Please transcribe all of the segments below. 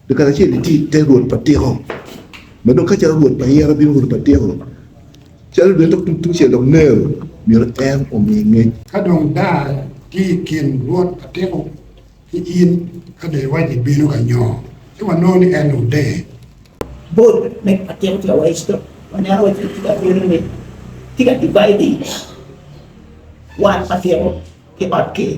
Dok kare acel itye i te rwot pa tiko, ma dong ka calo rwot pa yero bino rwot pa tiko, calo dong dok tung tucel dok nero, myero en omi ngec. Ka dong dar tye i kin rwot pa tiko ki in, ka dong iwaci bino ka nyo, ci wanongo ni en odeyo. Bot me pa tiko tye awaci dok wanyalo waco ni tye ka bino ni tye ka divide wat pa tiko ki ot ker.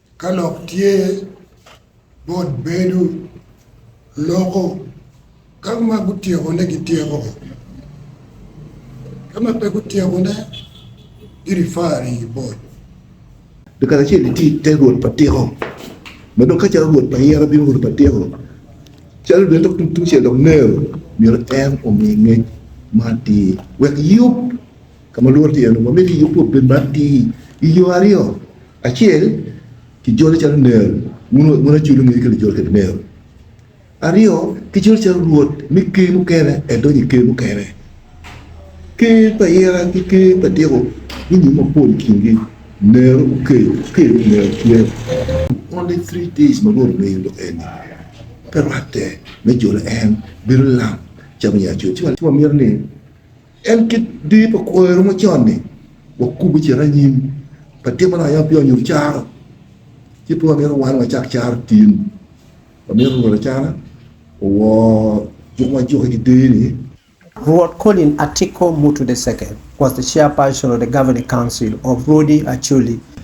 Ka lok tye bot bedo loko ka ma gutyekone gityeko, ka ma pe gutyekone girifari bot. Pi kare acel iti te rwot pa tiko, ma dong ka calo rwot pa yero bino rwot pa tiko, calo dong dok tung tucel dok Nero myero en omi ngec ma atir wek yub. Ka ma lworo tye en, wamito i Yakobo bed ma atir i yo aryo, acel, kijole calo nero, wun wun acul ongeyo kit lijol kwede nero, aryo, kijole calo rwot me ker mukene edonyo i ker mukene. Ker pa ira ki ker pa tiko gunyumo mapol i kingi, nero gukeyo, ker pi nero tye. Only three days ma Rwot omiyo lok eni, pe rwatte me jolo en bedo lam calo me nya acul. Ci wamito ni. En kit dee pa kwoyo ma con-ni, wakubo cito anyim pa timo lok yam pi onyo caro. Ci pe wamito wan wacak caro tin. Wamito Rwot acana owor juko wa juke ki dee-ni. Rwot Colin Atiko Mutu the Second was the chairperson of the Governing Council of Rodi Acholi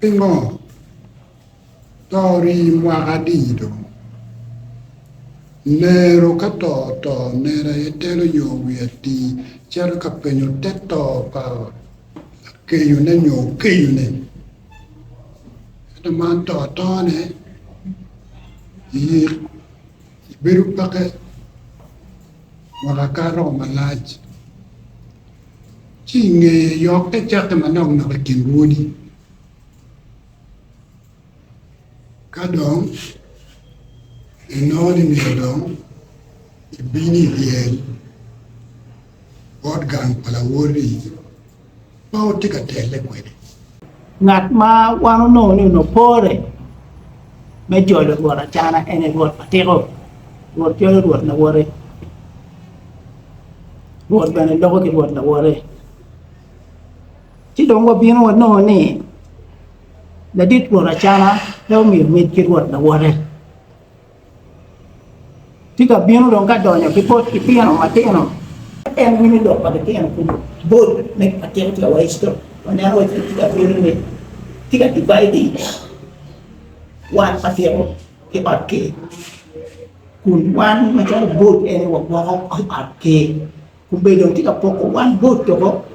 Pingo to rii mwaka adi dong? Lero ka to oto nera aye telo nyo wi ati cito ka penyo te to pa lakenyone nyo okenyone. Ento man to atone yik I bedo peke woko akato malac, ci i ngeye yokke cakke manok nok i kin lwodi. Ka dong inongo ni myero dong ibin i ryel bot gang pa lawotti, ma watye ka telle kwede. Ngat ma wan onongo ni onongo pore me jolo Rwot acana en aye Rwot ma tiko. Rwot jolo Rwot lawote, Rwot bene loko ki Rwot lawote. Ci dong wabino wanongo ni ladit Rwot acana pe omiyo mit ki Rwot lawote. Tika abino dong ka donyo ki bot litino matino? En winyo lok pa litino kulu. Bot me atiko tika waeco waneno waco ni tika abino ni tika divai di wan atiko ki ot ki kun wan macalo bot en wagwoko ot ki kun bene dong tika poko wan bot toko.